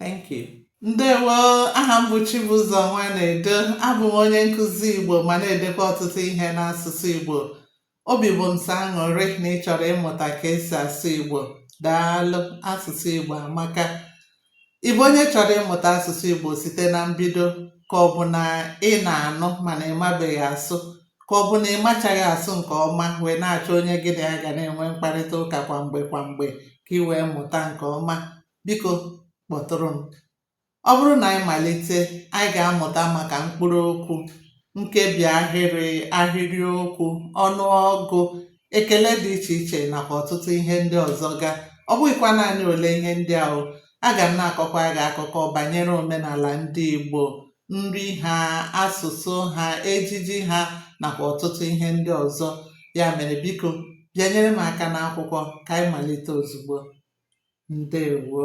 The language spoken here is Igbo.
Thank you. Ndewo, aha m bụ Chibụzọ Nwanedo, abụ m onye nkụzi Igbo ma na-edekwa ọtụtụ ihe n'asụsụ Igbo. Obi bụ m sọ aṅụrị na ị chọrọ ịmụta ka esi asụ Igbo. Daalụ, asụsụ Igbo amaka. Ị bụ onye chọrọ ịmụta asụsụ Igbo site na mbido ka ọ bụ na ị na-anụ mana ị mabeghị asụ ka ọ bụ na ị machaghị asụ nke ọma wee na-achọ onye gị na ya ga na-enwe mkparịta ụka kwa mgbe kwa mgbe ka ị wee mụta nke ọma biko kpọtụrụ m. Ọ bụrụ na anyị malite, anyị ga-amụta maka mkpụrụ okwu, nkebi ahịrị, ahịrịokwu, ọnụọgụ, ekele dị iche iche nakwa ọtụtụ ihe ndị ọzọ ga. Ọ bụghịkwa naanị ole ihe ndị ahụ, aga m na-akọkwa gị akụkọ banyere omenala ndị Igbo nri ha, asụsụ ha, ejiji ha nakwa ọtụtụ ihe ndị ọzọ. Ya mere biko bịanyere m aka n'akwụkwọ ka anyị malite ozugbo. Ndewo.